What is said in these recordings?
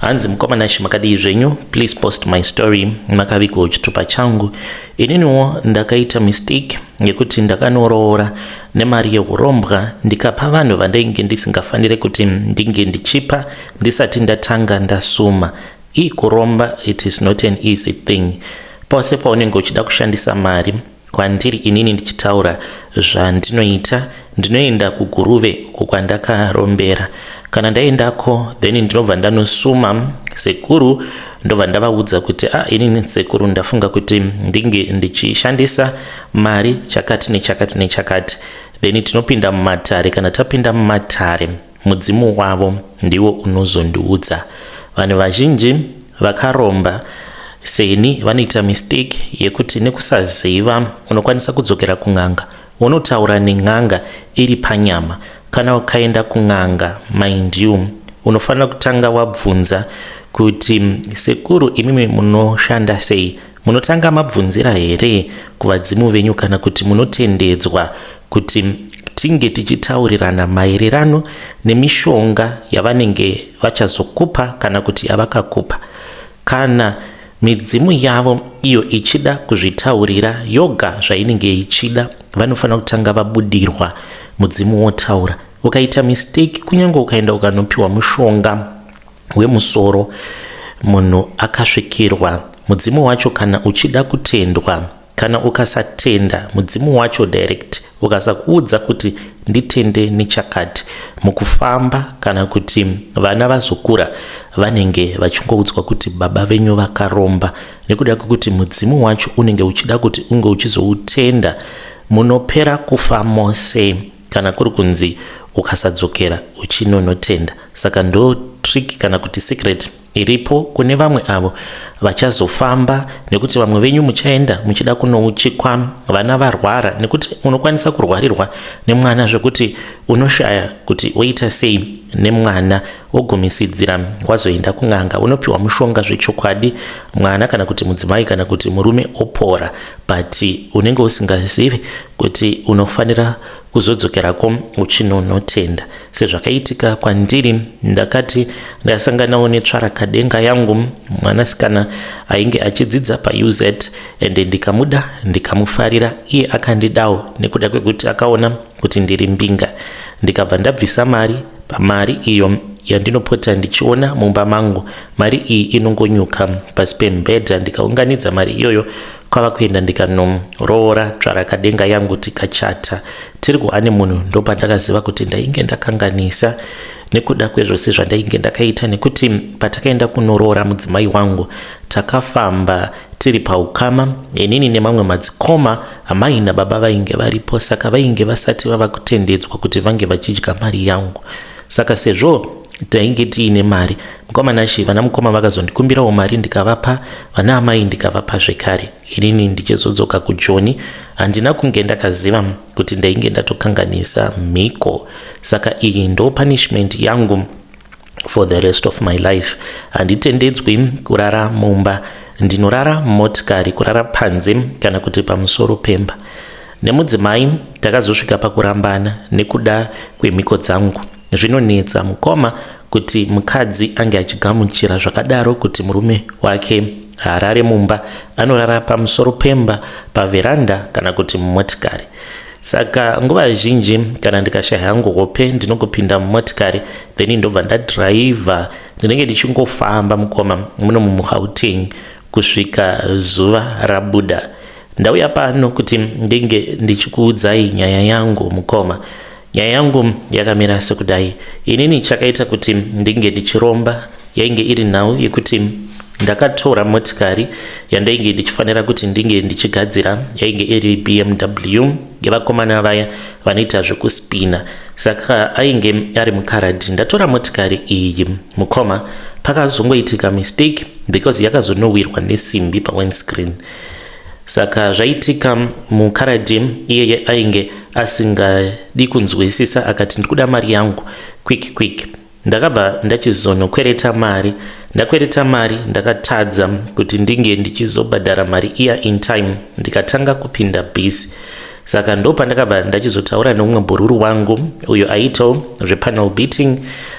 hanzi mukoma nashi makadii zvenyu please post my story makavigwa uchitupa changu ininiwo ndakaita mistake yekuti ndakanoroora nemari yeurombwa ndikapa vanhu vandainge ndisingafanire kuti ndinge ndichipa ndisati ndatanga ndasuma ii kuromba it is not an easy thing pose paunenge uchida kushandisa mari Kwandiri inini ndichitaura zvandinoita ndinoenda kuguruve uko kwandakarombera kana ndaendako then ndinobva ndanosuma sekuru ndobva ndavaudza kuti a ah, inini sekuru ndafunga kuti ndinge ndichishandisa mari chakati nechakati nechakati then tinopinda mumatare kana tapinda mumatare Mudzimu wavo ndiwo unozondiudza. Vanhu vazhinji vakaromba seni vanoita mistake yekuti nekusaziva unokwanisa kudzokera kun'anga wonotaura nen'anga iri panyama. Kana ukaenda kun'anga mind you unofanira kutanga wabvunza kuti sekuru imimi munoshanda sei Munotanga mabvunzira here kuvadzimu venyu kana kuti munotendedzwa kuti tinge tichitaurirana maererano nemishonga yavanenge vachazokupa kana kuti yavakakupa kana midzimu yavo iyo ichida kuzvitaurira yoga zvainenge ichida vanofanira kutanga vabudirwa mudzimu wotaura ukaita mistake kunyange ukaenda ukanopiwa mushonga hwemusoro munhu akasvikirwa mudzimu wacho kana uchida kutendwa kana ukasatenda mudzimu wacho direct ukasakuudza kuti nditende nechakati mukufamba kana kuti vana vazokura vanenge vachingoudzwa kuti baba venyu vakaromba nekuda kwekuti mudzimu wacho unenge uchida kuti unge uchizoutenda munopera kufa mose kana kuri kunzi ukasadzokera uchinonotenda saka ndo trick kana kuti secret iripo kune vamwe avo vachazofamba nekuti vamwe venyu muchaenda muchida kunouchikwa vana varwara nekuti unokwanisa kurwarirwa nemwana zvekuti unoshaya kuti oita sei nemwana wogumisidzira wazoenda kun'anga unopiwa mushonga zvechokwadi mwana kana kuti mudzimai kana kuti murume opora but unenge usingazivi kuti unofanira kuzodzokerako uchinonotenda sezvakaitika kwandiri ndakati ndasanganawo netsvarakadenga yangu mwanasikana ainge achidzidza pauz and ndikamuda ndikamufarira iye akandidawo nekuda kwekuti akaona kuti ndiri mbinga ndikabva ndabvisa mari pamari iyo yandinopota ndichiona mumba mangu mari iyi inongonyuka pasi pemubhedha ndikaunganidza mari iyoyo kwava kuenda ndikanoroora tsvarakadenga yangu tikachata tiri kuane munhu ndopandakaziva kuti ndainge ndakanganisa nekuda kwezvose zvandainge ndakaita nekuti patakaenda kunoroora mudzimai wangu takafamba tiri paukama inini nemamwe madzikoma amai nababa vainge varipo saka vainge vasati vava kutendedzwa kuti vange vachidya mari yangu saka sezvo tainge tiine mari mukoma nashi vana mukoma vakazondikumbirawo mari ndikavapa vana amai ndikavapa zvekare inini ndichizodzoka kujoni handina kunge ndakaziva kuti ndainge ndatokanganisa mhiko saka iyi ndo punishment yangu for the rest of my life handitendedzwi kurara mumba ndinorara motikari kurara panze kana kuti pamusoro pemba nemudzimai takazosvika pakurambana nekuda kwemhiko dzangu zvinonetsa mukoma kuti mukadzi ange achigamuchira zvakadaro kuti murume wake haarare mumba anorara pamusoro pemba paveranda kana kuti mumotikari saka nguva zhinji kana ndikashaya hangu hope ndinongopinda mumotikari then ndobva ndadhiraivha ndinenge ndichingofamba mukoma muno mumugauteng kusvika zuva rabuda ndauya pano kuti ndinge ndichikuudzai nyaya yangu mukoma nyaya yangu yakamira sekudai inini chakaita kuti ndinge ndichiromba yainge iri nhau yekuti ndakatora motikari yandainge ndichifanira kuti ndinge ndichigadzira yainge iri bmw yevakomana vaya vanoita zvekuspina saka ainge ari mukaradhi ndatora motikari iyi mukoma pakazongoitika mistake because yakazonowirwa nesimbi pawindscreen saka zvaitika mukaradhi iyeye ainge asingadi kunzwisisa akati ndikuda mari yangu quick quick Ndakabva ndachizonokwereta mari ndakwereta mari ndakatadza kuti ndinge ndichizobhadhara mari iya in time ndikatanga kupinda bhisi saka ndo pandakabva ndachizotaura neumwe bhururu wangu uyo aitawo zvepanel beating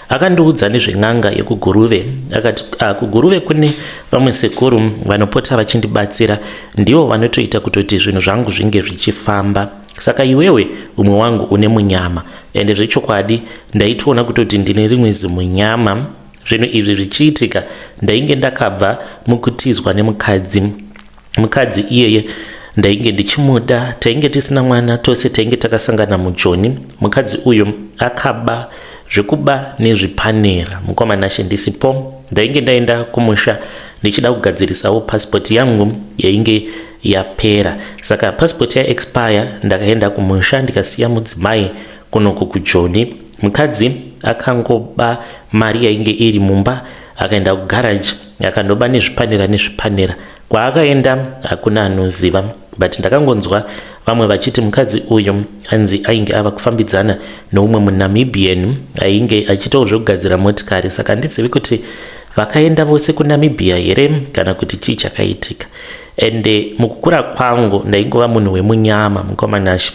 akandiudza nezven'anga yekuguruve akati ah, kuguruve kune vamwe sekuru vanopota vachindibatsira ndivo vanotoita kutoti zvinhu zvangu zvinge zvichifamba saka iwewe umwe wangu une munyama ende zvechokwadi ndaitoona kutoti ndine rimwe zimunyama zvinhu izvi zvichiitika ndainge ndakabva mukutizwa nemukadzi mukadzi iyeye ndainge ndichimuda tainge tisina mwana tose tainge takasangana mujoni mukadzi uyu akaba zvekuba nezvipanera mukoma nashe ndisipo ndainge ndaenda kumusha ndichida kugadzirisawo pasipoti yangu yainge yapera saka passport ya expire ndakaenda kumusha ndikasiya mudzimai kunoku kujoni mukadzi akangoba mari yainge iri mumba akaenda kugaraji akandoba nezvipanera nezvipanera kwaakaenda hakuna anoziva but ndakangonzwa vamwe vachiti mukadzi uyu anzi ainge ava kufambidzana noumwe munamibian ainge achitawo zvekugadzira motikari saka handizivi kuti vakaenda vose kunamibia here kana kuti chii chakaitika and eh, mukukura kwangu ndaingova munhu wemunyama mukomanashi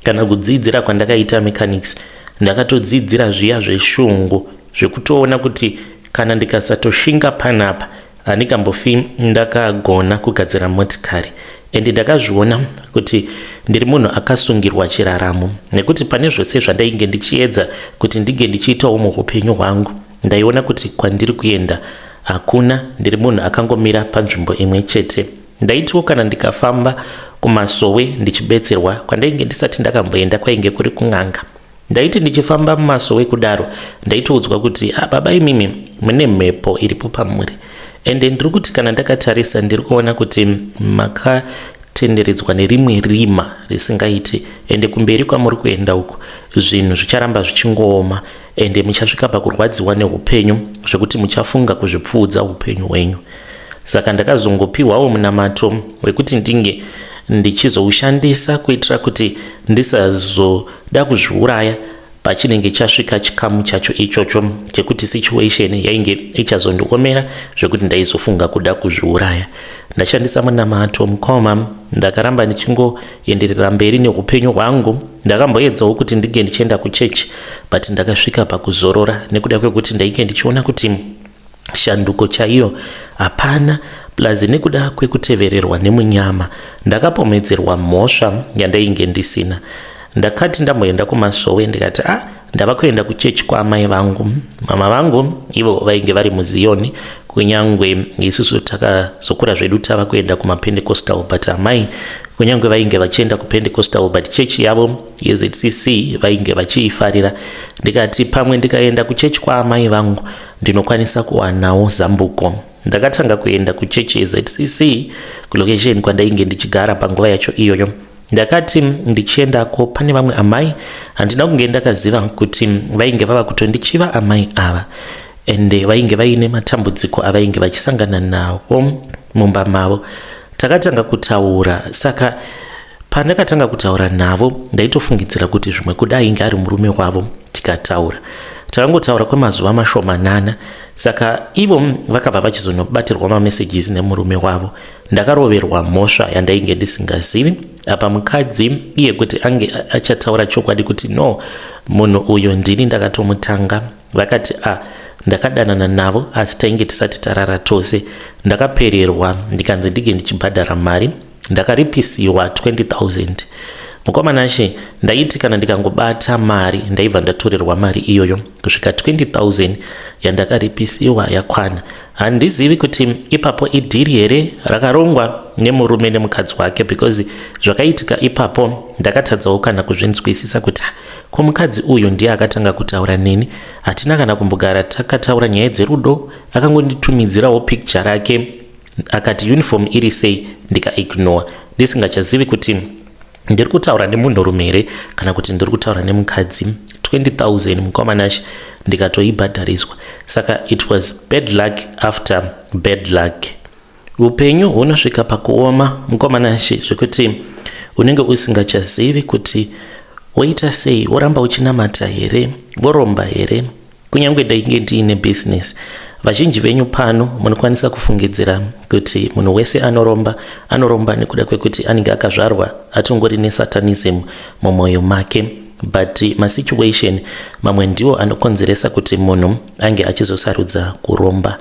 kana kudzidzira kwandakaita mechanics ndakatodzidzira zviya zveshungu zvekutoona kuti kana ndikasatoshinga panapa handikambofi ndakagona kugadzira motikari and ndakazviona kuti ndiri munhu akasungirwa chiraramo nekuti pane zvose zvandainge ndichiedza kuti ndinge ndichiitawo muupenyu hwangu Ndaiona kuti kwandiri kuenda hakuna, ndiri munhu akangomira panzvimbo imwe chete. Ndaitiwo kana ndikafamba kumasowe ndichibetserwa kwandainge ndisati ndakamboenda kwainge kuri kun'anga. Ndaiti ndichifamba mumasowe kudaro ndaitoudzwa kuti ah, baba imimi mune mhepo iripo pamuri ende ndiri kuti kana ndakatarisa ndiri kuona kuti maka tenderedzwa nerimwe rima risingaiti ende kumberi kwamuri kuenda uko zvinhu zvicharamba zvichingooma ende muchasvika pakurwadziwa neupenyu zvekuti muchafunga kuzvipfuudza upenyu hwenyu saka ndakazongopiwawo munamato wekuti ndinge ndichizoushandisa kuitira kuti ndisazoda kuzviuraya pachinenge chasvika chikamu chacho ichocho chekuti situation yainge ichazondiomera zvekuti ndaizofunga kuda kuzviuraya ndashandisa munamato mukoma ndakaramba ndichingo enderera mberi neupenyu hwangu ndakamboedzawo kuti ndinge ndichienda kuchechi but ndakasvika pakuzorora nekuda kwekuti ndainge ndichiona kuti shanduko chaiyo hapana plus nekuda kwekutevererwa nemunyama ndakapomedzerwa mhosva yandainge ndisina ndakati ndamboenda kumasowe ndikati a ah, ndava kuenda kuchechi kwaamai vangu mama vangu ivo vainge vari muziyoni kunyange isusu takazokura zvedu tava kuenda kumapendecostal but amai kunyange vainge vachienda kupendecostal but chechi yavo yezcc vainge vachiifarira ndikati pamwe ndikaenda kuchechi kwaamai vangu ndinokwanisa kuwanawo zambuko ndakatanga kuenda kuchechi yezcc kulokesheni kwandainge ndichigara panguva yacho iyoyo Ndakati ndichiendako pane vamwe amai handina kunge ndakaziva kuti vainge vava kutondichiva amai ava ende vainge vaine matambudziko avainge vachisangana nawo mumba mavo. Takatanga kutaura saka pandakatanga kutaura navo ndaitofungidzira kuti zvimwe kuda ainge ari murume wavo tikataura takangotaura kwemazuva mashomanana saka ivo vakabva vachizonobatirwa mamessages nemurume wavo ndakaroverwa mhosva yandainge ndisingazivi apa mukadzi iye kuti ange achataura chokwadi kuti no munhu uyu ndini ndakatomutanga vakati a ah, ndakadanana navo asi tainge tisati tarara tose ndakapererwa ndikanzi ndinge ndichibhadhara mari ndakaripisiwa 20000 mukomana she ndaiti kana ndikangobata mari ndaibva ndatorerwa mari iyoyo kusvika 20000 yandakaripisiwa yakwana handizivi kuti ipapo idhiri here rakarongwa nemurume nemukadzi wake because zvakaitika ipapo ndakatadzawo kana kuzvinzwisisa kuti ko mukadzi uyu ndiye akatanga kutaura neni hatina kana kumbogara takataura nyaya dzerudo akangonditumidzirawo picture rake akati uniform iri sei ndikaignore ndisingachazivi kuti ndiri kutaura nemunhurume here kana kuti ndiri kutaura nemukadzi 20000 mukoma nashe ndikatoibhadhariswa saka it was bad luck after bad luck upenyu hunosvika pakuoma mukoma nashe zvekuti unenge usingachazivi kuti woita sei woramba uchinamata here woromba here Kunyange ndainge ndiine business, vazhinji venyu pano munokwanisa kufungidzira kuti munhu wese anoromba anoromba nekuda kwekuti anenge akazvarwa atongori nesatanism mumwoyo make but masituation mamwe ndiwo anokonzeresa kuti munhu ange achizosarudza kuromba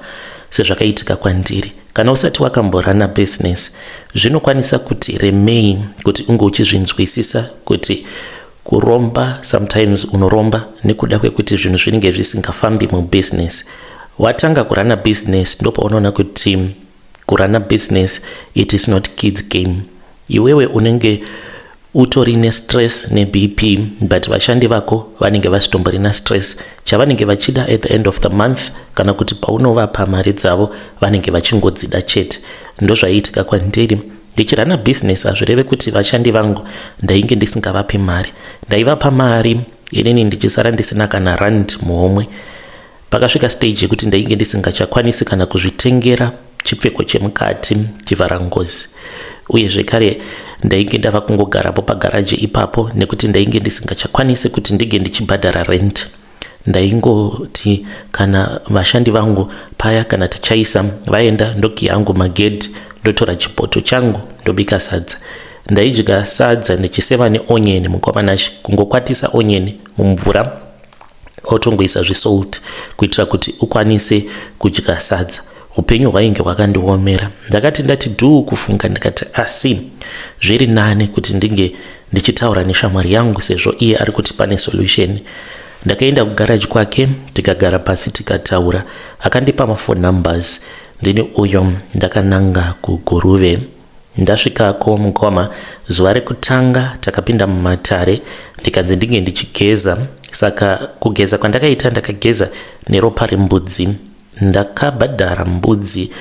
sezvakaitika kwandiri kana usati wakamborana business zvinokwanisa kuti remei kuti unge uchizvinzwisisa kuti Kuromba sometimes unoromba nekuda kwekuti zvinhu zvinenge zvisingafambi mubusiness. Watanga kurana business ndopaunoona kuti kurana business it is not kids game. Iwewe unenge utori nestress nebp but vashandi vako vanenge vasitomborina stress chavanenge vachida at the end of the month kana kuti paunovapa mari dzavo vanenge vachingodzida chete ndozvaiitika kwandiri Ndichirana business hazvireve kuti vashandi vangu ndainge ndisingavapi mari. Ndaivapa mari inini ndichisara ndisina kana rand muhomwe. Pakasvika stage yekuti ndainge ndisingachakwanisi kana kuzvitengera chipfeko chemukati chivhara ngozi. Uye zvekare ndainge ndava kungogarapo pagaraji ipapo nekuti ndainge ndisingachakwanisi kuti ndinge ndichibhadhara rent. ndaingoti kana vashandi vangu paya kana tichaisa vaenda ndoki yangu magedhi ndotora chipoto changu ndobika sadza ndaidya sadza ndichiseva neonyeni mukwamanashe kungokwatisa onyeni mumvura otongoisa zvesolt kuitira kuti ukwanise kudya sadza upenyu hwainge hwakandiomera ndakati ndati dhuu kufunga ndikati asi zviri nani kuti ndinge ndichitaura neshamwari yangu sezvo iye ari kuti pane solution ndakaenda kugaraji kwake tikagara pasi tikataura akandipa mafone numbers ndini uyo ndakananga kuguruve ndasvikako mukoma zuva rekutanga takapinda mumatare ndikanzi ndinge ndichigeza saka kugeza kwandakaita ndakageza neropa rembudzi Ndakabhadhara mbudzi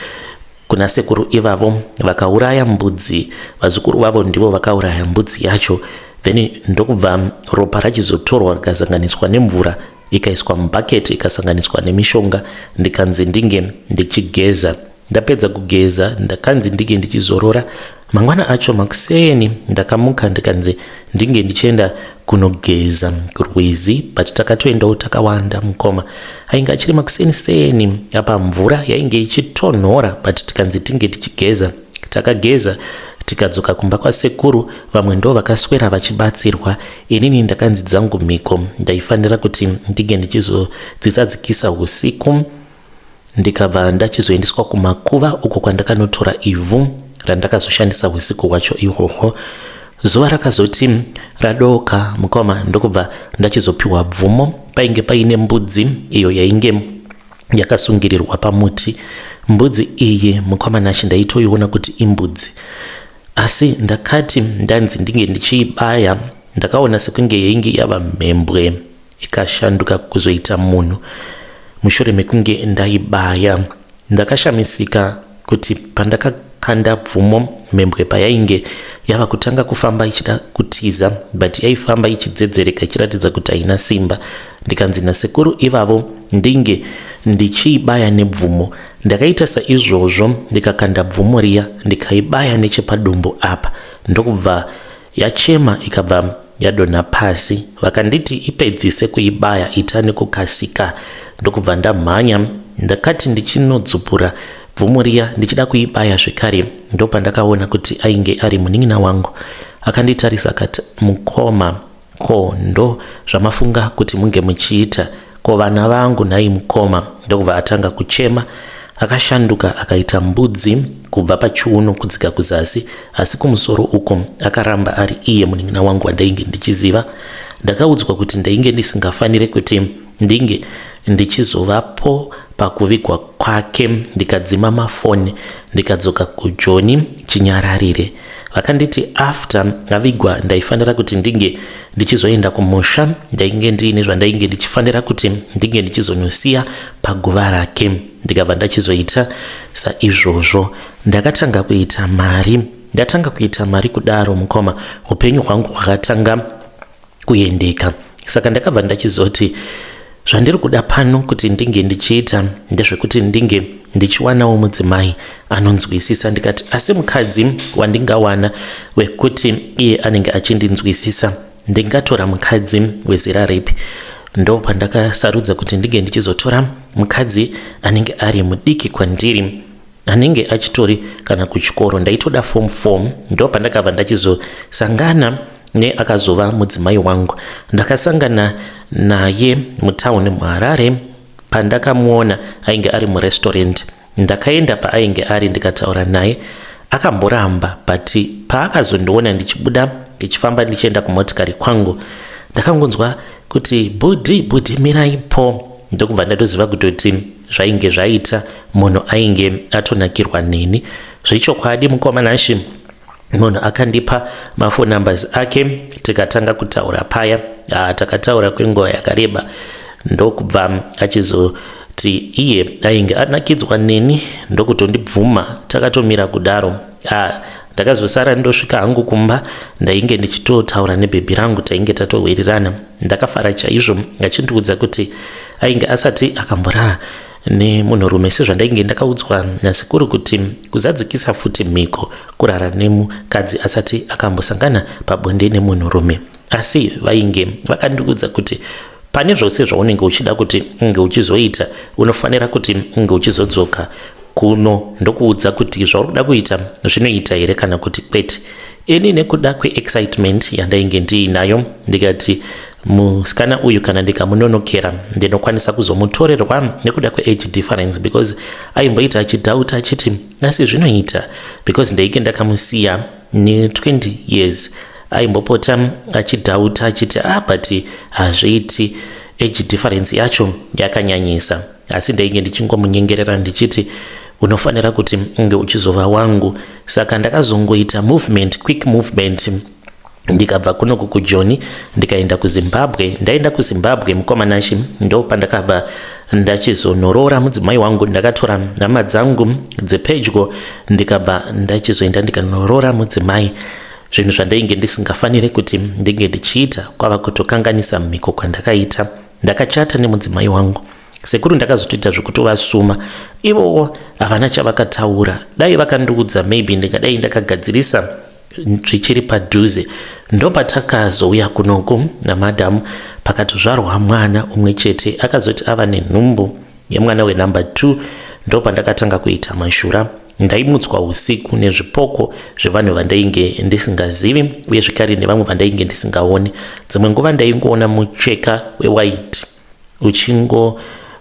kuna sekuru ivavo vakauraya mbudzi vazukuru vavo ndivo vakauraya mbudzi yacho then ndokubva ropa rachizotorwa rikasanganiswa nemvura ikaiswa mubucket ikasanganiswa nemishonga ndikanzi ndinge ndichigeza ndapedza kugeza ndakanzi ndinge ndichizorora Mangwana acho makuseni ndakamuka ndikanzi ndinge ndichienda kunogeza kurwizi but takatoendawo takawanda mukoma ainge achiri makuseni seni apa mvura yainge ichitonhora but tikanzi tinge tichigeza takageza tikadzoka kumba kwasekuru vamwe ndo vakaswera vachibatsirwa inini ndakanzi dzangu mhiko ndaifanira kuti ndinge ndichizodzisadzikisa usiku ndikabva ndachizoendeswa kumakuva uko kwandakanotora ivhu randakazoshandisa husiku hwacho ihwohwo zuva rakazoti radooka mukoma ndokubva ndachizopiwa bvumo painge paine mbudzi iyo yainge yakasungirirwa pamuti mbudzi iyi mukoma nashe ndaitoiona kuti imbudzi asi ndakati ndanzi ndinge ndichiibaya ndakaona sekunge yainge yava mhembwe ikashanduka kuzoita munhu mushure mekunge ndaibaya. Ndakashamisika kuti pandakakanda bvumo mhembwe payainge yava kutanga kufamba ichida kutiza but yaifamba ichidzedzereka ichiratidza kuti haina simba ndikanzi nasekuru ivavo ndinge ndichiibaya nebvumo ndakaita saizvozvo ndikakanda bvumo riya ndikaibaya nechepadumbu apa ndokubva Yachema ikabva yadonha pasi vakanditi ipedzise kuibaya ita nekukasika ndokubva ndamhanya ndakati ndichinodzupura bvumo riya ndichida kuibaya zvekare ndopandakaona kuti ainge ari munin'ina wangu akanditarisa akati mukoma ko ndo zvamafunga kuti munge muchiita Ko vana vangu nhai mukoma? Ndokubva atanga kuchema akashanduka akaita mbudzi kubva pachiuno kudzika kuzasi asi kumusoro uko akaramba ari iye munin'ina wangu wandainge ndichiziva ndakaudzwa kuti ndainge ndisingafanire kuti ndinge ndichizovapo pakuvigwa kwake ndikadzima mafoni ndikadzoka kujoni chinyararire vakanditi after avigwa ndaifanira kuti ndinge ndichizoenda kumusha ndainge ndiine zvandainge ndichifanira kuti ndinge ndichizonosiya paguva rake ndikabva ndachizoita saizvozvo ndakatanga kuita mari ndatanga kuita mari kudaro mukoma upenyu hwangu hwakatanga kuendeka saka ndakabva ndachizoti zvandiri kuda pano kuti ndinge ndichiita ndezvekuti ndinge ndichiwanawo mudzimai anonzwisisa ndikati asi mukadzi wandingawana wekuti iye anenge achindinzwisisa ndingatora mukadzi wezera ripi ndo pandakasarudza kuti ndinge ndichizotora mukadzi anenge ari mudiki kwandiri anenge achitori kana kuchikoro ndaitoda form 4 ndo pandakabva ndachizosangana neakazova mudzimai wangu ndakasangana naye mutown muharare pandakamuona ainge ari murestaurant ndakaenda paainge ari ndikataura naye akamboramba but paakazondiona ndichibuda ndichifamba ndichienda kumotikari kwangu ndakangonzwa kuti bhudhi bhudhi mirai po ndokubva ndatoziva kutoti zvainge zvaita munhu ainge atonakirwa neni zvechokwadi mukoma nashe munhu akandipa mafon numbers ake tikatanga kutaura paya ah, takataura kwenguva yakareba ndokubva achizo kuti iye ainge anakidzwa neni ndokutondibvuma takatomira kudaro a ndakazosara ndosvika hangu kumba ndainge ndichitotaura nebhebhi rangu tainge tatohwirirana Ndakafara chaizvo achindiudza kuti ainge asati akamborara nemunhurume sezvandainge ndakaudzwa nasekuru kuti kuzadzikisa futi mhiko kurara nemukadzi asati akambosangana pabonde nemunhurume asi vainge vakandiudza kuti pane zvose zvaunenge uchida kuti unge uchizoita unofanira kuti unge uchizodzoka kuno ndokuudza kuti zvauri kuda kuita zvinoita here kana kuti kwete ini nekuda kweexcitement yandainge ndiinayo ndikati musikana uyu kana ndikamunonokera ndinokwanisa kuzomutorerwa nekuda kweage difference because aimboita achidhauta achiti asi zvinoita because ndainge ndakamusiya ne20 years aimbopota achidhauta achiti ah but hazviiti age difference yacho yakanyanyisa asi ndainge ndichingomunyengerera ndichiti unofanira kuti unge uchizova wangu saka ndakazongoita movement quick movement ndikabva kuno kukujoni ndikaenda kuzimbabwe ndaenda kuzimbabwe mukomanashi ndo pandakabva ndachizonoroora mudzimai wangu ndakatora nhama dzangu dzepedyo ndikabva ndachizoenda ndikanoroora mudzimai zvinhu zvandainge ndisingafanire kuti ndinge ndichiita kwava kutokanganisa mhiko kwandakaita Ndakachata nemudzimai wangu. Sekuru ndakazotoita zvekutovasuma. Ivowo havana chavakataura. Dai vakandiudza maybe ndingadai ndakagadzirisa zvichiri padhuze. Ndopatakazouya kunoku namadam pakatozvarwa mwana umwe chete akazoti ava nenhumbu yemwana wenumber 2 ndopandakatanga kuita mashura. Ndaimutswa usiku nezvipoko zvevanhu vandainge ndisingazivi uye zvekare nevamwe vandainge ndisingaoni. Dzimwe nguva ndaingoona mucheka wewaiti uchingo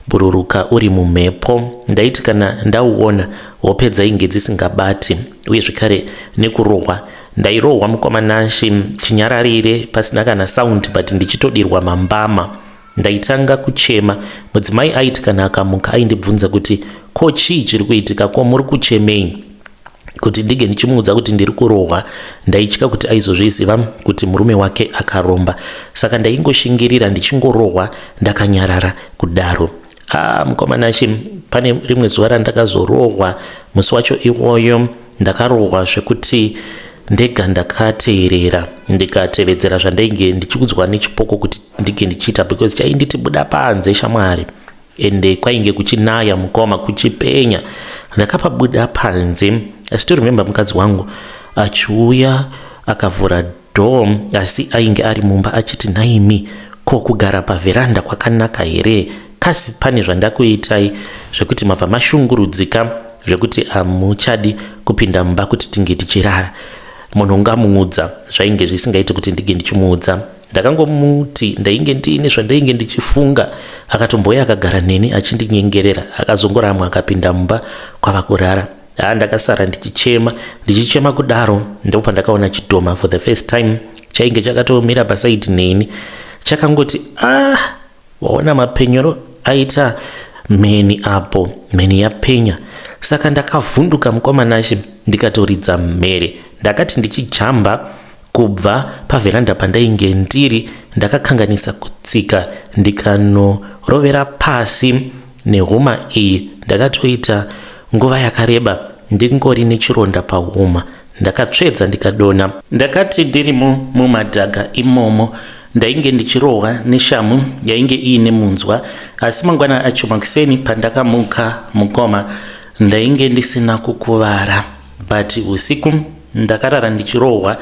bhururuka uri mumhepo ndaiti kana ndauona hope dzainge dzisingabati uye zvekare nekurohwa ndairohwa mukoma nashe chinyararire pasina kana saundi but ndichitodirwa mambama Ndaitanga kuchema. Mudzimai aiti kana akamuka aindibvunza kuti ko chii chiri kuitika ko muri kuchemei? kuti ndinge ndichimuudza kuti ndiri kurohwa ndaitya kuti aizozviziva kuti murume wake akaromba saka ndaingoshingirira ndichingorohwa ndakanyarara kudaro ah mukomana shi pane rimwe zuva randakazorohwa musi wacho iwoyo Ndakarohwa zvekuti ndega ndakateerera ndikatevedzera zvandainge ndichikudzwa nechipoko kuti ndinge ndichiita because chainditi buda panze shamwari ende kwainge kuchinaya mukoma kuchipenya ndakapabuda panze i still remember mukadzi wangu achiuya akavhura door asi ainge ari mumba achiti nhaimi ko kugara pavheranda kwakanaka here kasi pane zvandakuitai zvekuti mabva mashungurudzika zvekuti hamuchadi kupinda mumba kuti tinge tichirara munhu ngamuudza zvainge zvisingaiti kuti ndinge ndichimuudza ndakangomuti ndainge ndiine zvandainge ndichifunga akatombouya akagara neni achindinyengerera akazongoramwa akapinda mumba kwava kurara haa ndakasara ndichichema ndichichema kudaro ndipo pandakaona chidhoma for the first time chainge chakatomira pasaidi neni chakangoti ah waona mapenyero aita mheni apo mheni yapenya saka ndakavhunduka mukwamanashe ndikatoridza mhere ndakati ndichijamba kubva pavheranda pandainge ndiri ndakakanganisa kutsika ndikanorovera pasi Nehuma iyi ndakatoita nguva yakareba ndingori nechironda pahuma ndakatsvedza ndikadonha. Ndakati ndirimo mumadhaga imomo ndainge ndichirohwa neshamhu yainge iine munzwa asi mangwana acho makuseni pandakamuka mukoma ndainge ndisina kukuvara but usiku ndakarara ndichirohwa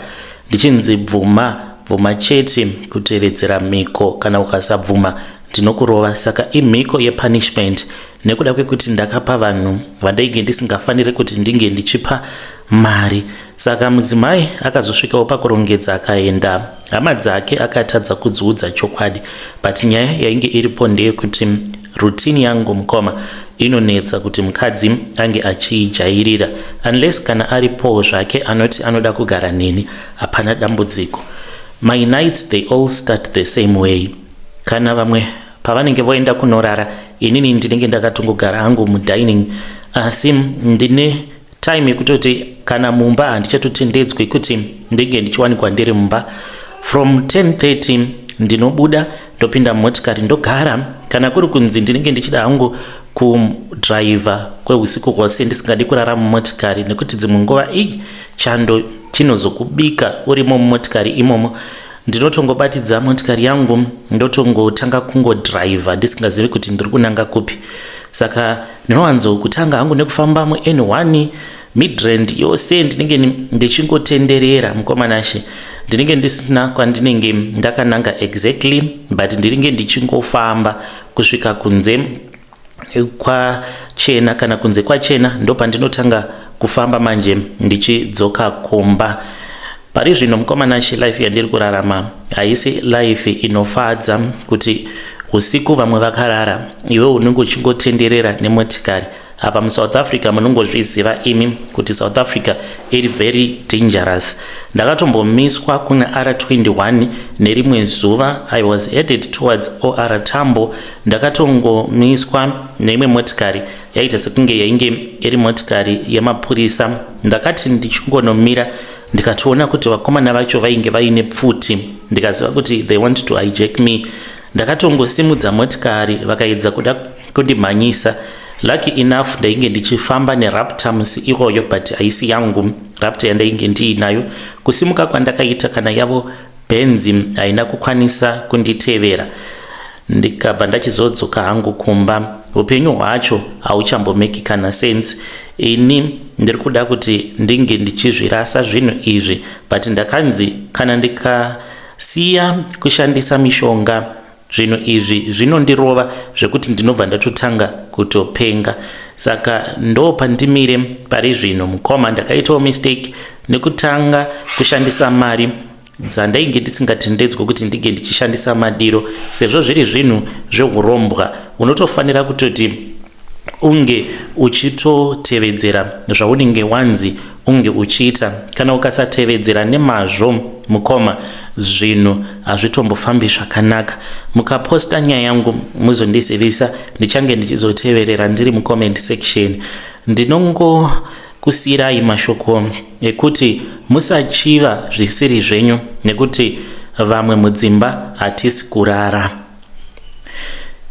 ndichinzi bvuma bvuma chete kutevedzera mhiko kana ukasabvuma ndinokurova saka imhiko yepunishment nekuda kwekuti ndakapa vanhu vandainge ndisingafanire kuti ndinge ndichipa mari saka mudzimai akazosvikawo pakurongedza akaenda hama dzake akatadza kudziudza chokwadi but nyaya yainge iripo ndeyekuti rutini yangu mukoma inonetsa kuti mukadzi ange achiijairira unless kana aripowo zvake anoti anoda kugara neni hapana dambudziko my nights they all start the same way Kana vamwe pavanenge voenda kunorara inini ndinenge ndakatongogara hangu mudining asi ndine time yekutoti kana mumba handichatotendedzwi kuti ndinge ndichiwanikwa ndiri mumba from 1030 ndinobuda ndopinda mumotikari ndogara kana kuri kunzi ndinenge ndichida hangu kudriver kweusiku hwose ndisingadi kurara mumotikari nekuti dzimwe nguva ii chando chinozokubika urimo mumotikari imomo ndinotongobatidza motikari yangu ndotongotanga kungodriver ndisingazivi kuti ndiri kunanga kupi saka ndinowanzo kutanga hangu nekufamba muen one midrand yose ndinenge ndichingotenderera mukomanashe ndinenge ndisina kwandinenge ndakananga exactly but ndiringe ndichingofamba kusvika kunze kwachena kana kunze kwachena ndopandinotanga kufamba manje ndichidzoka kumba pari zvino mukomana she life yandiri kurarama haisi life inofadza kuti usiku vamwe vakarara iwe unenge uchingotenderera nemotikari apa musouth africa munongozviziva imi kuti south africa iri very dangerous ndakatombomiswa kuna r21 nerimwe zuva i was headed towards or tambo Ndakatongomiswa neimwe motikari yaita sekunge yainge iri motikari yemapurisa. Ndakati ndichingonomira ndikatoona kuti vakomana vacho vainge vaine pfuti ndikaziva kuti they want to hijack me. Ndakatongosimudza motikari vakaedza kuda kundimhanyisa. Lucky enough ndainge ndichifamba neraptor musi iwoyo but haisi yangu raptor yandainge ndiinayo. Kusimuka kwandakaita kana yavo Benzi haina kukwanisa kunditevera ndikabva ndachizodzoka hangu kumba. Upenyu hwacho hauchambomeki kana sense. Ini ndiri kuda kuti ndinge ndichizvirasa zvinhu izvi but ndakanzi kana ndikasiya kushandisa mishonga zvinhu izvi zvinondirova zvekuti ndinobva ndatotanga kutopenga saka ndo pandimire pari zvino mukoma ndakaitawo mistake nekutanga kushandisa mari dzandainge ndisingatendedzwe kuti ndinge ndichishandisa madiro sezvo zviri zvinhu zveurombwa unotofanira kutoti unge uchitotevedzera zvaunenge wanzi unge uchiita kana ukasatevedzera nemazvo mukoma zvinhu hazvitombofambi zvakanaka mukaposta nyaya yangu muzondizivisa ndichange ndichizoteverera ndiri mucomment section ndinongo kusiyirai mashoko ekuti musachiva zvisiri zvenyu nekuti vamwe mudzimba hatisi kurara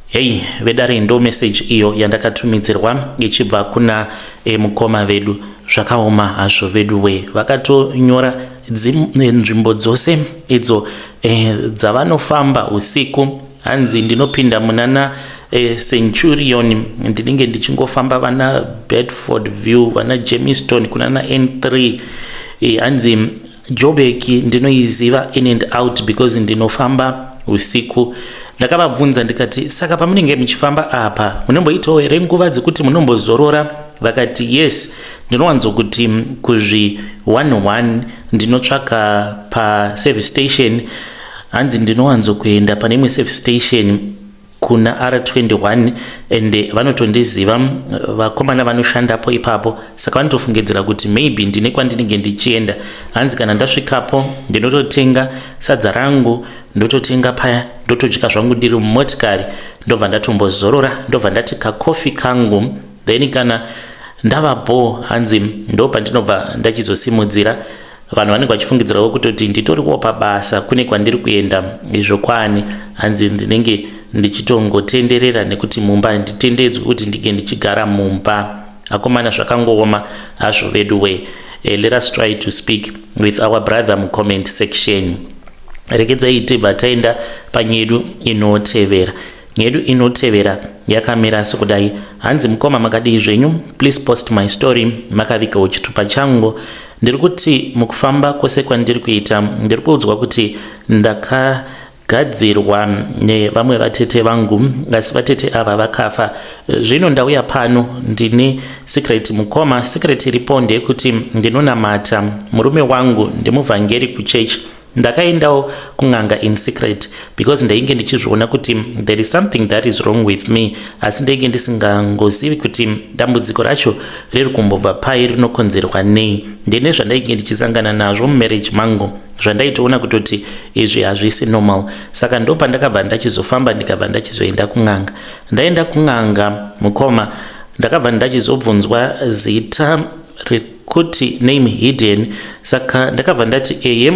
Hey vedare ndo message iyo yandakatumidzirwa ichibva kuna e, mukoma vedu zvakaoma hazvo vedu we vakatonyora eh, nzvimbo dzose idzo e, dzavanofamba usiku hanzi ndinopinda munana e, centurion ndinenge ndichingofamba vana bedford view vana jameston kunana n3 e, hanzi Joburg ndinoiziva in and out because ndinofamba usiku. Ndakavabvunza ndikati saka pamunenge muchifamba apa munomboitawo here nguva dzekuti munombozorora? Vakati yes, ndinowanzokuti kuzvi one one ndinotsvaka paservice station hanzi ndinowanzokuenda pane imwe service station kuna r21 and vanotondiziva vakomana vanoshandapo ipapo saka vanotofungidzira kuti maybe ndine kwandinenge ndichienda hanzi kana ndasvikapo ndinototenga sadza rangu ndototenga paya ndotodya zvangu ndiri mumotikari ndobva ndatombozorora ndobva ndati kakofi kangu then kana ndava bho hanzi ndopandinobva ndachizosimudzira vanhu vanenge vachifungidzirawo kutoti nditoriwo pabasa kune kwandiri kuenda izvo kwani hanzi ndinenge ndichitongotenderera nekuti mumba handitendedzwi kuti ndinge ndichigara mumba akomana zvakangooma hazvo vedu we eh, let us try to speak with our brother mucomment section regedzai tibva taenda panyedu inotevera nyedu inotevera yakamira sekudai hanzi mukoma makadii zvenyu please post my story makavigawo chitupa changu Ndiri kuti mukufamba kwese kwandiri kuita ndiri kuudzwa kuti ndaka gadzirwa nevamwe vatete vangu asi vatete ava vakafa zvino ndauya pano ndine secret mukoma secret iripo ndeyekuti ndinonamata murume wangu ndimuvhangeri kuchechi Ndakaendawo kun'anga in secret because ndainge ndichizviona kuti there is something that is wrong with me asi ndainge ndisingangozivi kuti dambudziko racho riri kumbobva pai rinokonzerwa nei ndene zvandainge ndichisangana nazvo mumarriage mangu zvandaitoona kutoti izvi hazvisi normal saka ndo pandakabva ndachizofamba ndikabva ndachizoenda kun'anga ndaenda kun'anga mukoma ndakabva ndachizobvunzwa zita kuti name hidden saka ndakabva ndati eye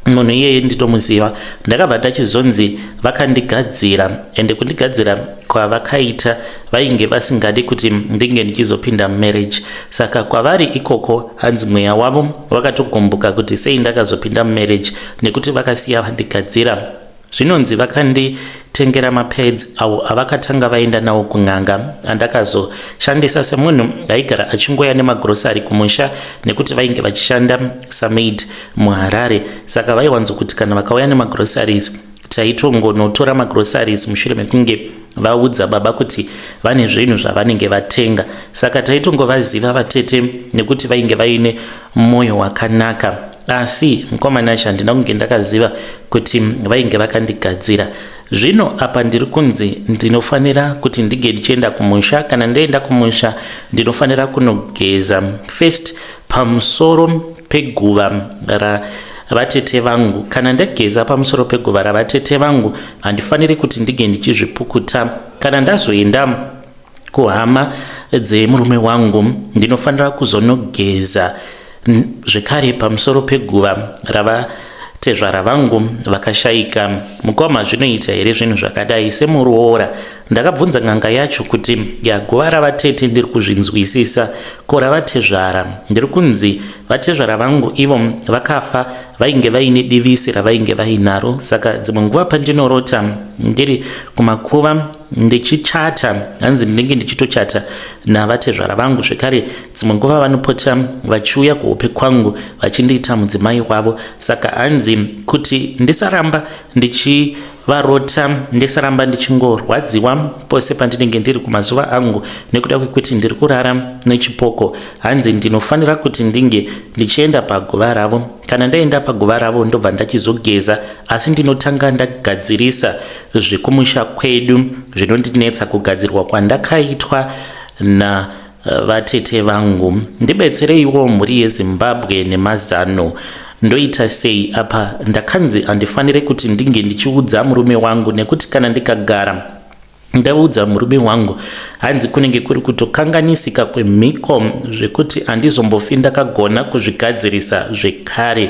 munhu iyeye nditomuziva ndakabva ndachizonzi vakandigadzira ende kundigadzira kwavakaita vainge vasingadi kuti ndinge ndichizopinda mumarriage saka kwavari ikoko hanzi mweya wavo wakatogumbuka kuti sei ndakazopinda mumarriage nekuti vakasiya vandigadzira Zvinonzi vakanditengera mapads awo avakatanga vaenda nawo kun'anga andakazoshandisa semunhu aigara achingoya nemagrosari kumusha nekuti vainge vachishanda samaid muHarare saka vaiwanzokuti kana vakauya nemagrosaries taitongonotora magrosaries mushure mekunge vaudza baba kuti vane zvinhu zvavanenge vatenga saka taitongovaziva vatete nekuti vainge vaine mwoyo wakanaka asi mukoma Nasha handina kunge ndakaziva kuti vainge vakandigadzira zvino apa ndiri kunzi ndinofanira kuti ndige ndichienda kumusha kana ndaenda kumusha ndinofanira kunogeza first pamusoro peguva ra vatete vangu kana ndageza pamusoro peguva ravatete vangu handifaniri kuti ndige ndichizvipukuta kana ndazoenda kuhama dzemurume wangu ndinofanira kuzonogeza zvekare pamusoro peguva rava tezvara vangu vakashaika mukoma zvinoita here zvinhu zvakadai semuroora ndakabvunza n'anga yacho kuti yaguva ravatete ndiri kuzvinzwisisa ko ravatezvara ndiri kunzi vatezvara vangu ivo vakafa vainge vaine divisi ravainge vainaro saka dzimwe nguva pandinorota ndiri kumakuva ndichichata hanzi ndinenge ndichitochata navatezvara vangu zvekare dzimwe nguva vanopota vachiuya kuhope kwangu vachindiita mudzimai wavo saka hanzi kuti ndisaramba ndichi varota ndisaramba ndichingorwadziwa pose pandinenge ndiri kumazuva angu nekuda kwekuti ndiri kurara nechipoko hanzi ndinofanira kuti ndinge ndichienda paguva ravo kana ndaenda paguva ravo ndobva ndachizogeza asi ndinotanga ndagadzirisa zvekumusha kwedu zvinondinetsa kugadzirwa kwandakaitwa na eh, vatete vangu ndibetsereiwo mhuri yezimbabwe nemazano ndoita sei apa ndakanzi handifanire kuti ndinge ndichiudza murume wangu nekuti kana ndikagara ndaudza murume wangu hanzi kunenge kuri kutokanganisika kwemhiko zvekuti handizombofi ndakagona kuzvigadzirisa zvekare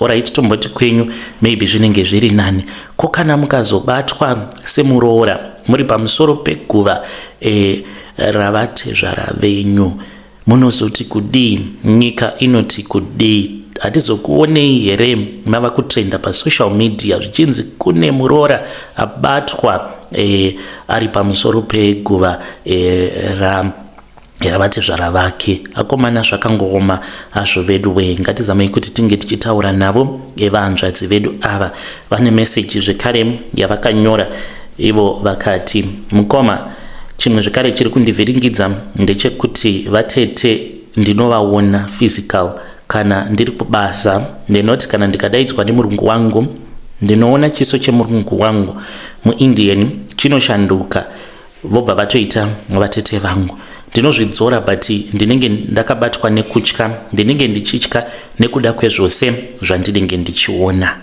orit tomboti kwenyu maybe zvinenge zviri nani ko kana mukazobatwa semuroora muri pamusoro peguva e, ravatezvara venyu munozoti kudii nyika inoti kudii hatizokuonei here mava kutrenda pasocial media zvichinzi kune muroora abatwa e, ari pamusoro peguva e, ra era vatezvara vake akomana zvakangooma hazvo vedu wee ngatizamei kuti tinge tichitaura navo evahanzvadzi vedu ava vane meseji zvekare yavakanyora ivo vakati mukoma chimwe zvekare chiri kundivhiringidza ndechekuti vatete ndinovaona physical kana ndiri kubasa ndinoti kana ndikadaidzwa nemurungu wangu ndinoona chiso chemurungu wangu muindian chinoshanduka vobva vatoita vatete vangu ndinozvidzora but ndinenge ndakabatwa nekutya ndinenge ndichitya nekuda kwezvose zvandinenge ndichiona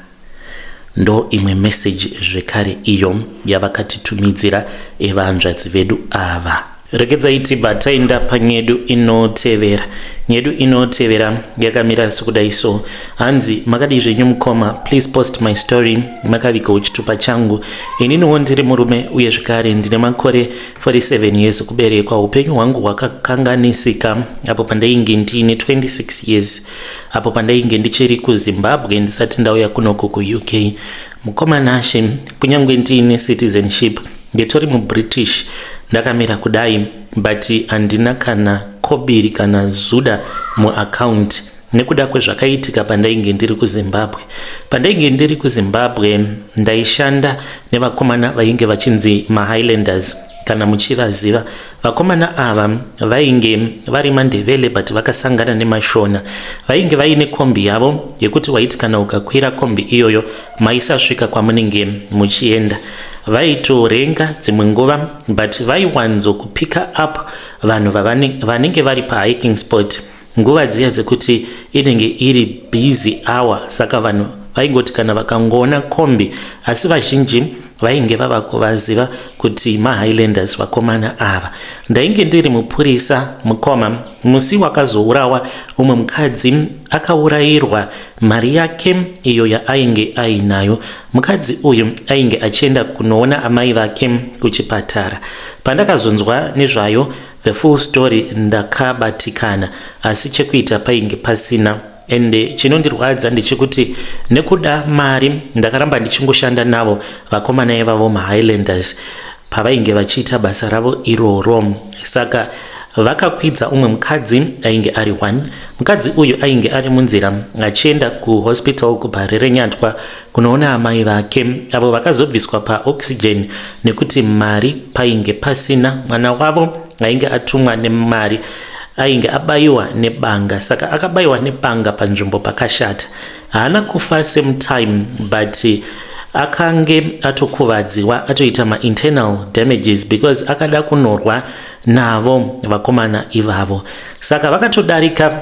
ndo imwe meseji zvekare iyo yavakatitumidzira evanzvadzi vedu ava regedzai tibva taenda panyedu inotevera nyedu inotevera yakamira sekudai so hanzi makadii zvenyu mukoma please post my story makaviga uchitupa changu Ininiwo ndiri murume uye zvekare ndine makore 47 years kuberekwa. Upenyu hwangu hwakakanganisika apo pandainge ndiine 26 years apo pandainge ndichiri kuZimbabwe ndisati ndauya kunoko kuUK. Mukoma Nashe, kunyange ndiine citizenship ndetori muBritish ndakamira kudai but handina kana kobiri kana zuda muaccount. nekuda kwezvakaitika pandainge ndiri kuzimbabwe pandainge ndiri kuzimbabwe ndaishanda nevakomana vainge vachinzi mahighlanders kana muchivaziva vakomana ava vainge vari mandevele but vakasangana nemashona vainge vaine kombi yavo yekuti waiti kana ukakwira kombi iyoyo maisasvika kwamunenge muchienda vaitorenga dzimwe nguva but vaiwanzo kupika up vanhu vanenge vari pahiking sport Nguva dziya dzekuti inenge iri busy hour saka vanhu vaingoti kana vakangoona kombi asi vazhinji vainge vava kuvaziva kuti mahighlanders vakomana ava ndainge ndiri mupurisa mukoma musi wakazourawa umwe mukadzi akaurayirwa mari yake iyo yaainge ainayo mukadzi uyu ainge achienda kunoona amai vake kuchipatara pandakazonzwa nezvayo The full story ndakabatikana asi chekuita painge pasina ende chinondirwadza ndechekuti nekuda mari ndakaramba ndichingoshanda navo vakomana ivavo mahighlanders pavainge vachiita basa ravo iroro saka vakakwidza umwe mukadzi ainge ari one mukadzi uyu ainge ari munzira achienda kuhospital kubhare renyatwa kunoona amai vake avo vakazobviswa paoxygen nekuti mari painge pasina mwana wavo ainge atumwa nemari ainge abayiwa nebanga saka akabayiwa nebanga panzvimbo pakashata haana kufa same time but akange atokuvadziwa atoita mainternal damages because akada kunorwa navo vakomana ivavo saka vakatodarika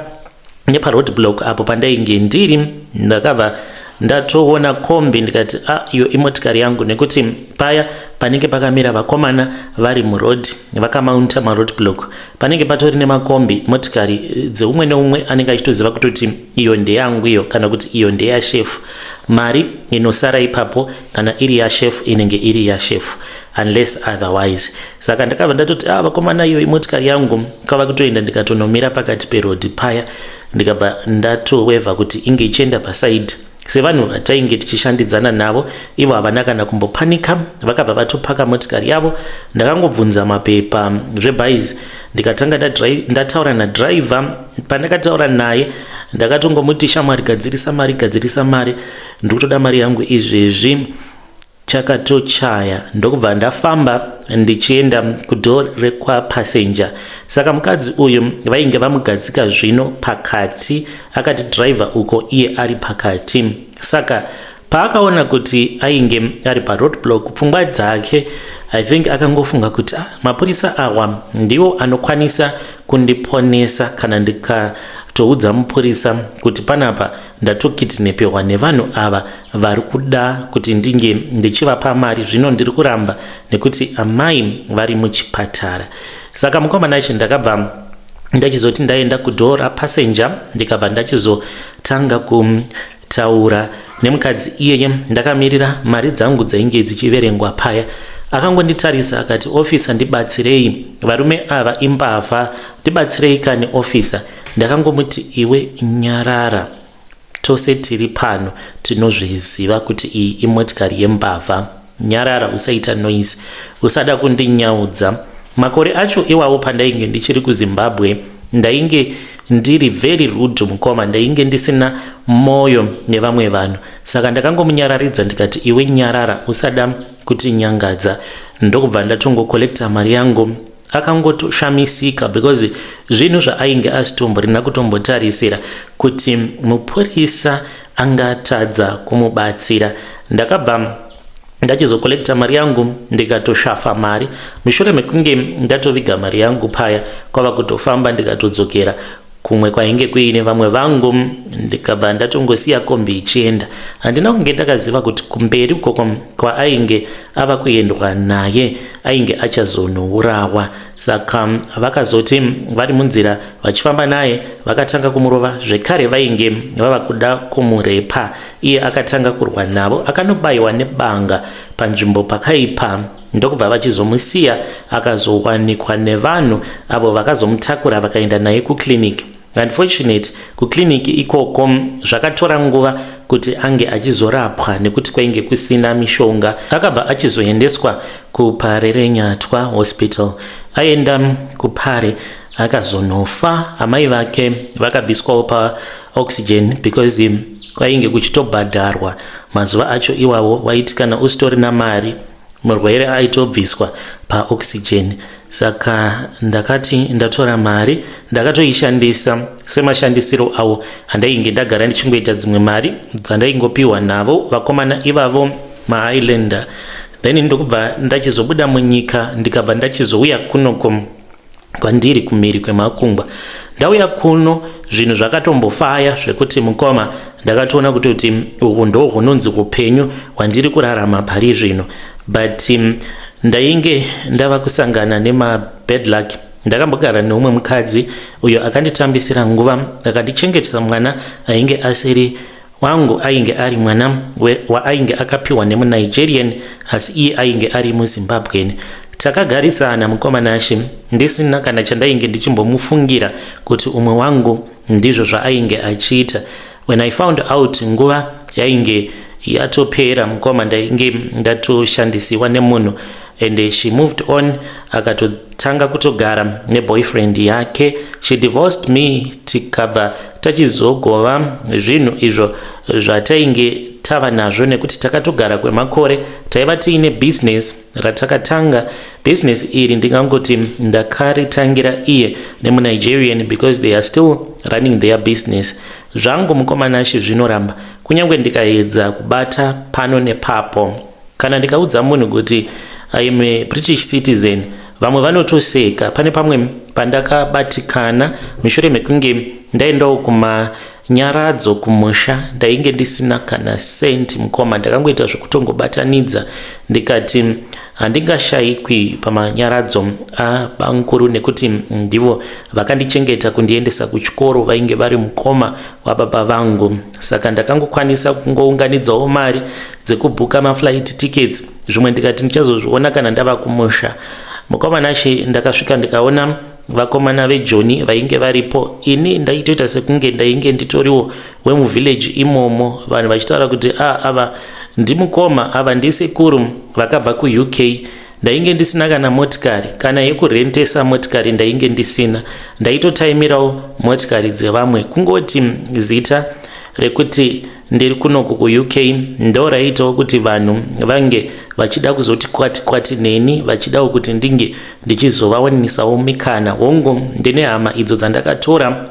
neparoad block apo pandainge ndiri ndakabva ndatoona kombi ndikati a ah, iyo imotikari yangu nekuti paya panenge pakamira vakomana vari muroad vakamaunta maroad block panenge patori nemakombi motikari eh, dzeumwe neumwe anenge achitoziva kutoti iyo ndeyangu iyo kana kuti iyo ndeyashefu mari inosara ipapo kana iri yashefu inenge iri yashefu unless otherwise saka ndakabva ndatoti ah vakomana iyo imotikari yangu kava kutoenda ndikatonomira pakati perodhi paya ndikabva ndatoweva kuti inge ichienda pasaidi sevanhu vatainge tichishandidzana navo ivo havana kana kumbopanika vakabva vatopaka motikari yavo ndakangobvunza mapepa zvebhaizi ndikatanga ndataura nadriver pandakataura naye ndakatongomuti shamwari gadzirisa mari gadzirisa mari ndikutoda mari yangu izvezvi chakatochaya ndokubva ndafamba ndichienda kudoor rekwapassenger saka mukadzi uyu vainge vamugadzika zvino pakati akati driver uko iye ari pakati saka paakaona kuti ainge ari paroadblock pfungwa dzake i think akangofunga kuti ah, mapurisa awa ndiwo anokwanisa kundiponesa kana ndikatoudza mupurisa kuti panapa ndatokitnepehwa nevanhu ava vari kuda kuti ndinge ndichivapa mari zvino ndiri kuramba nekuti amai vari muchipatara saka mukomana ichi ndakabva ndachizoti ndaenda kudhoo rapassenja ndikabva ndachizotanga kutaura nemukadzi iyeye ndakamirira mari dzangu dzainge dzichiverengwa paya akangonditarisa akati ofisa ndibatsirei varume ava imbavha ndibatsirei kani ofisa Ndakangomuti iwe nyarara tose tiri pano tinozviziva kuti iyi imotikari yembavha nyarara usaita noise usada kundinyaudza makore acho iwawo pandainge ndichiri kuzimbabwe ndainge ndiri very rude mukoma ndainge ndisina moyo nevamwe vanhu saka ndakangomunyararidza ndikati iwe nyarara usada kutinyangadza ndokubva ndatongokollekta mari yangu akangotoshamisika because zvinhu zvaainge asitomborina kutombotarisira kuti mupurisa angatadza kumubatsira ndakabva ndachizokolecta mari yangu ndikatoshafa mari mushure mekunge ndatoviga mari yangu paya kwava kutofamba ndikatodzokera kumwe kwainge kuine vamwe vangu ndikabva ndatongosiya kombi ichienda handina kunge ndakaziva kuti kumberi ukoko kwaainge ava kuendwa naye ainge achazonourawa saka vakazoti vari munzira vachifamba naye vakatanga kumurova zvekare vainge vava kuda kumurepa iye akatanga kurwa navo akanobayiwa nebanga panzvimbo pakaipa ndokubva vachizomusiya akazowanikwa nevanhu avo vakazomutakura vakaenda naye kuclinic unfortunate kuclinic ikoko zvakatora nguva kuti ange achizorapwa nekuti kwainge kusina mishonga akabva achizoendeswa kupare renyatwa hospital aenda kupare akazonofa amai vake vakabviswawo pa oxygen because kwainge kuchitobhadharwa mazuva acho iwawo waiti kana usitorina mari murwere aitobviswa paoxygen saka ndakati ndatora mari ndakatoishandisa semashandisiro avo andainge ndagara ndichingoita dzimwe mari dzandaingopiwa navo vakomana ivavo mahighland then ndokubva ndachizobuda munyika ndikabva ndachizouya kunoko kwandiri kumhiri kwemakungwa ndauya kuno zvinhu zvakatombofaya zvekuti mukoma ndakatoona kuti kuti uku ndo hunonzi upenyu hwandiri kurarama pari zvino but um, ndainge ndava kusangana nemabad luck ndakambogara neumwe mukadzi uyo akanditambisira nguva akandichengetesa mwana ainge asiri Wangu ainge ari mwana waainge akapiwa nemuNigerian asi iye ainge ari muZimbabwean. Takagarisana mukoma Nashe ndisina kana chandainge ndichimbomufungira kuti umwe wangu ndizvo zvaainge achiita. When I found out nguva yainge yatopera mukoma ndainge ndatoshandisiwa nemunhu and she moved on akatotanga kutogara neboyfriend yake she divorced me tikabva tachizogova zvinhu izvo zvatainge tava nazvo nekuti takatogara kwemakore taiva tiine bhizinesi ratakatanga bhizinesi iri ndingangoti ndakaritangira iye nemunigerian because they are still running their business zvangu mukomanashi zvinoramba kunyange ndikaedza kubata pano nepapo Kana ndikaudza munhu kuti I am a British citizen vamwe vanotoseka. Pane pamwe pandakabatikana mushure mekunge ndaendawo kuma nyaradzo kumusha ndainge ndisina kana cent mukoma ndakangoita zvekutongobatanidza ndikati handingashayikwi pamanyaradzo abamukuru nekuti ndivo vakandichengeta kundiendesa kuchikoro vainge vari mukoma wababa vangu saka ndakangokwanisa kungounganidzawo mari dzekubhuka maflight tickets zvimwe ndikati ndichazozviona kana ndava kumusha mukomana she ndakasvika ndikaona vakomana vejoni vainge varipo ini ndaitoita sekunge ndainge nditoriwo wemuvillage imomo vanhu vachitaura kuti a ah, ava ndimukoma ava ndisekuru vakabva kuuk Ndainge ndisina kana motikari, kana yekurentesa motikari ndainge ndisina. Ndaitotaimirawo motikari dzevamwe. Kungoti zita rekuti ndiri kunoku kuUK ndo raiitawo kuti vanhu vange vachida kuzoti kwati kwati neni vachidawo kuti ndinge ndichizovawaninisawo mikana. Hongu, ndine hama idzo dzandakatora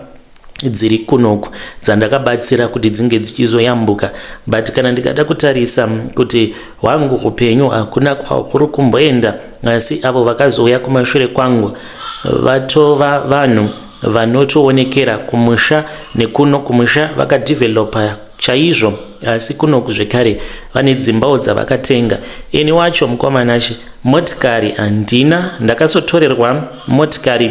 dziri kunoku dzandakabatsira kuti dzinge dzichizoyambuka but kana ndikada kutarisa kuti hwangu upenyu hakuna kwahuri kumboenda asi avo vakazouya kumashure kwangu vatova vanhu vanotoonekera kumusha nekuno kumusha vakadevelopa chaizvo asi kunoku zvekare vane dzimbawo dzavakatenga ini wacho mukomanachi motikari handina ndakasotorerwa motikari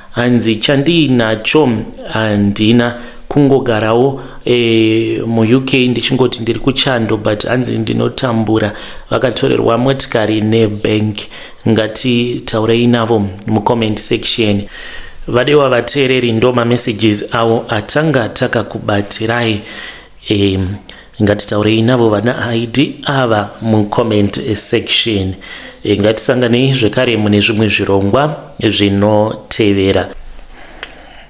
Hanzi chandiinacho handina kungogarawo e, muuk ndichingoti ndiri kuchando but hanzi ndinotambura vakatorerwa motikari nebank ngatitaurei navo mucomment section vadewa vateereri ndo mamessages avo atanga takakubatirai E, ngatitaurei navo vana id ava mucomment section e, ngatisanganei zvekare mune zvimwe zvirongwa zvinotevera.